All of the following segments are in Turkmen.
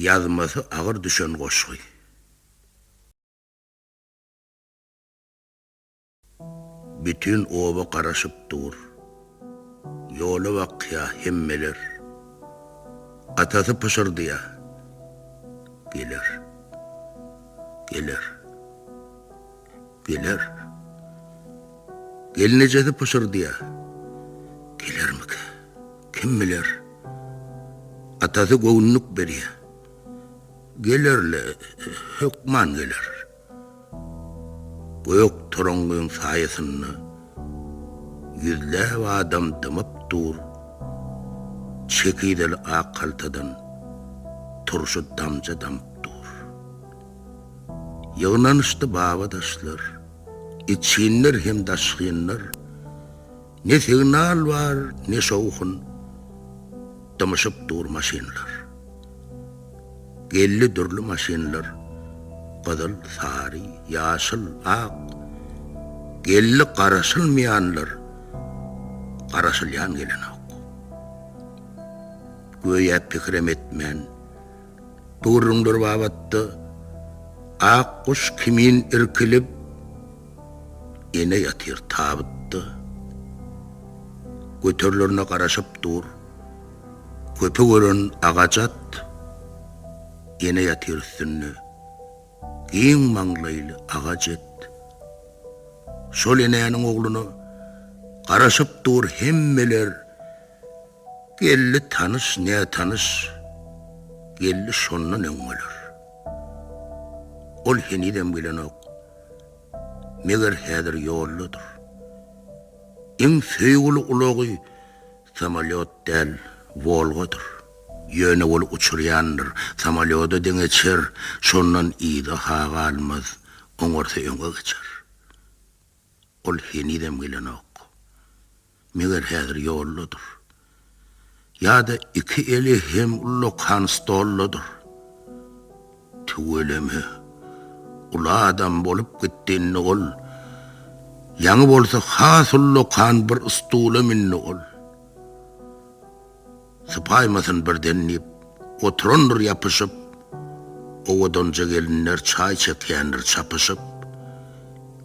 Ýazmasy agyr düşen goşgy. Bütin oba garaşyp dur. Ýola bakýa hemmeler. Atasy pyşyrdýa. Geler. Geler. Geler. Gelnejesi pyşyrdýar. Gelermikä? Kim biler? Atasy göwünlik berýär. Geler-le, hökman geler. Gök toraňňyň saýasynda ýüzläp adam dymyp dur. Çekizeli ak haltadan turşy damja damyp dur. Ýygnanyşdy babadaşlar, içginler hem daşgynlar, Ne signal bar, ne şowhun, dymyşyp dur maşynlar. Geldi dürli maşynlar, gyzyl, sary, ýaşyl, ak, Geldi garaşylmaýanlar, garaşylýan gelenok. Göýä pikirem etmän. Gürrüňler babatda Ak guş kimin irkilip Ene ýatyr tabytda Göterilerine garaşyp dur Köpük ören agaç at Ene ýatyr üstünde Giň maňlaýly aga jet Şol enäniň ogluna Garaşyp dur hemmeler Geldi tanyş, nätanyş geldi şondan öň bolar. Ol henizem gelenok. Meger häzir ýoldadyr. Iň söýgüli ulagy samolýot däl, Wolgadyr. Ýöne ol uçurýandyr. Samolýoda deňeçer, şondan yza-ha galmaz, oňarsa öňe geçer. Ol henizem gelenok. Meger häzir ýoldadyr. Ýa-da iki eli hem ullakan stoldadyr. Tüweleme, uly adam bolup gitdi indi ol. Ýaňy bolsa has ullakan bir stula mündi ol. Sypaýmasyn birden diýip, oturandyr ýapyşyp, Owadanja gelinler çaý çekýändir çapyşyp.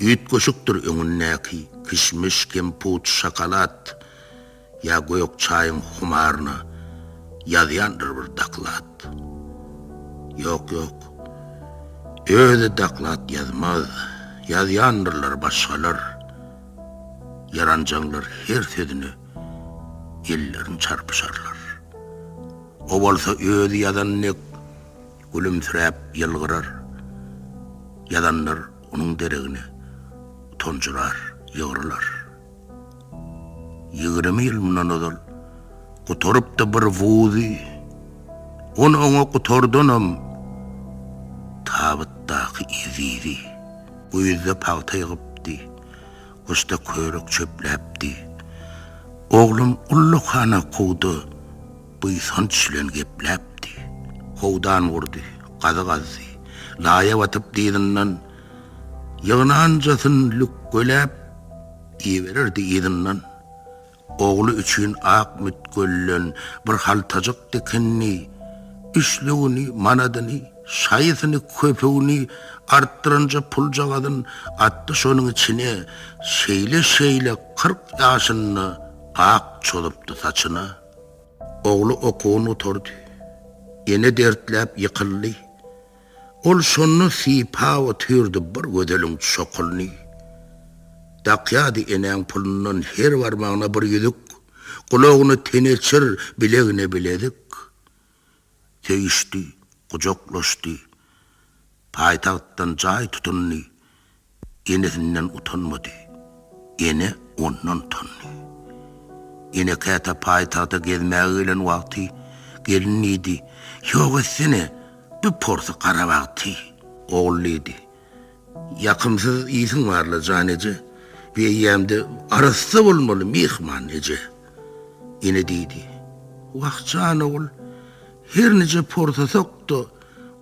Üýtgeşikdir öňündäki, kişmiş, kemput, şokolad, Ýa gök çaýyň humaryna ýazýandyr bir doklad. Ýok, ýok, özi doklad ýazmaz, ýazýandyrlar başgalar, Ýaranjaňlar her sözüne ellerini çarpyşarlar. O bolsa özi ýazan dek gülümsiräp ýylgyrar. Ýazanlar onuň deregine tonjurar, ýygrylar. Ýigrimi ýyl mundan ozal gutarypdy bir wuzy. On oňa gutardanam tabytdaky ezizi. Güýzde pagta ýygypdy. Gusta körük çöpläpdi. Oglum ullakhana kowda buýsanç bilen gepläpdi. Howdan gurdy, gazy gazdy. Laýa batyp dyzyndan ýygnanjasyn lükgeläp ibererdi yzyndan. Ogly üçin ak mütgölden bir haltajyk dikindi. Üçlügini, manadyny, şaýysyny, köpügini artdyranja puljagazyn atdy şonuň içine. Şeýle-şeýle kyrk ýaşynda ak çozupdy saçyna. Ogly okuwyn gutardy. Ene dertläp ýykyldy. Ol şonda sypap otyrdy bir gözeliň çokulyny. Dakýardy enäň pulundan her barmagyna bir ýüzük, gulagyna teneçir, bilegine bilezik. Söýüşdi, gujaklaşdy. Paýtagtdan jaý tutundy. Enesinden utanmady. Ene ondan utandy. Ene käte paýtagta gezmäge gelen wagty gelin diýdi, Ýok etsene, bir porsy garabag tyý. Ogul diýdi, Ýakymsyz ýsiň bar-la, jan eje, bu eýýäm-de arassa bolmaly, myhman eje. Ene diýdi, Wah, jan ogul, her nije porsasak-da,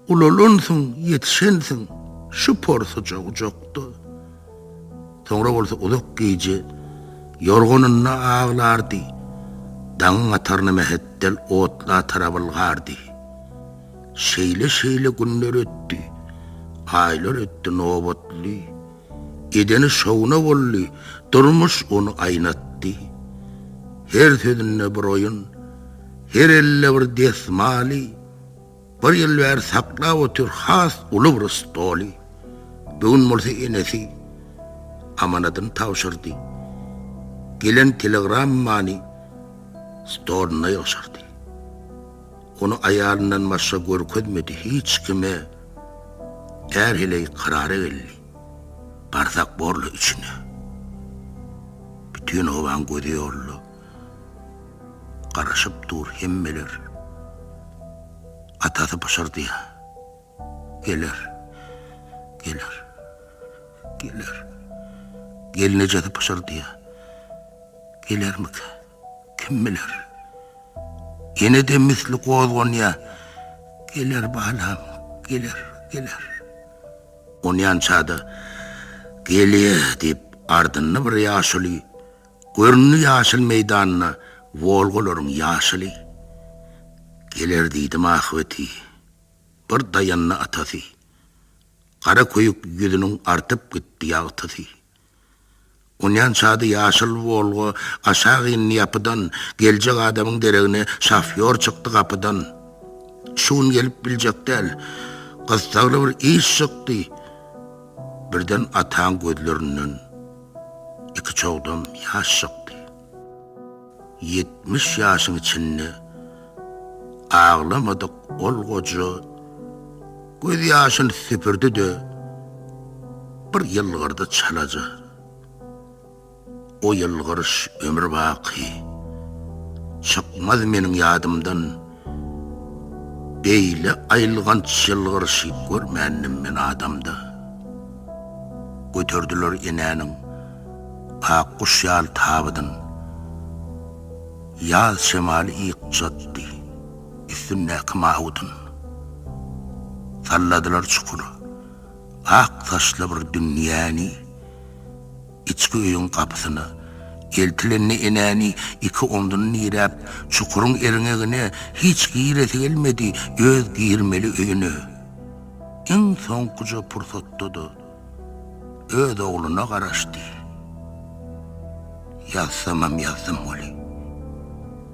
Ulalansyň, ýetişensiň şu porsuja ujakda. Soňra bolsa uzak gije ýorganynda aglardy, daňyň ataryna mähetdel otla tarap ylgardy. Şeýle-şeýle günler ötdi, aýlar ötdi nobatly. Edeni şowuna boldy, durmuş ony aýnatdy. Her sözünde bir oýun, her elde bir desmaly. Bir ýyl bäri saklap otyr has uly bir stoly. Bu gün bolsa enesi amanadyny tabşyrdy. Gelen telegrammany stoluna ýygşyrdy. Ony aýalyndan başga görkezmedi hiç kime. Är heleý karara geldi. Barsak borly üçine. Bütin obaň gözi ýolda. Garaşyp dur hemmeler. Atasy pyşyrdýar. Geler. Geler. Geler. Gelnejesi pyşyrdýar. Gelermika? Kim biler? Ýene-de misli gozganýar. Geler balam, geler, geler. Onýança-da, Gelýär diýip, ardynda bir ýaşuly Göründi ýaşyl meýdanda Wolgalaryň ýaşyly. Geler diýdim ahybeti, bir daýandy atasy. Gara köýük ýüzüniň artyp gitdi ýagtysy. Onýan çady ýaşyl Wolga aşak indi ýapydan, geljek adamyň deregine şofýor çykdy gapydan. Şu gün gelip biljek däl, gyssagly bir iş çykdy. Birden ataň gözlerinden. iki çogdam ýaş çykdy. Ýetmiş ýaşyň içinde aglamadyk ol goja göz ýaşyny süpürdi-de, bir ýylgyrdy çalaja. O ýylgyryş ömür baky çykmaz meniň ýadymdan. Beýle aýylganç ýylgyryşy görmändim men adamda. Göterdiler enäniň ak guş ýaly tabydyn. Ýaz şemaly ýykjatdy üstündäki mawydyn. Salladylar çukur, ak saçly bir dünýäni. Içki öýüň gapysyna eltilende enäni iki omzuny diräp, çukuryň erňegine hiç giresi gelmedi, öz girmeli öýüne iň soňkuja pursatda-da öz ogluna garaşdy. Ýazsamam ýazdym weli.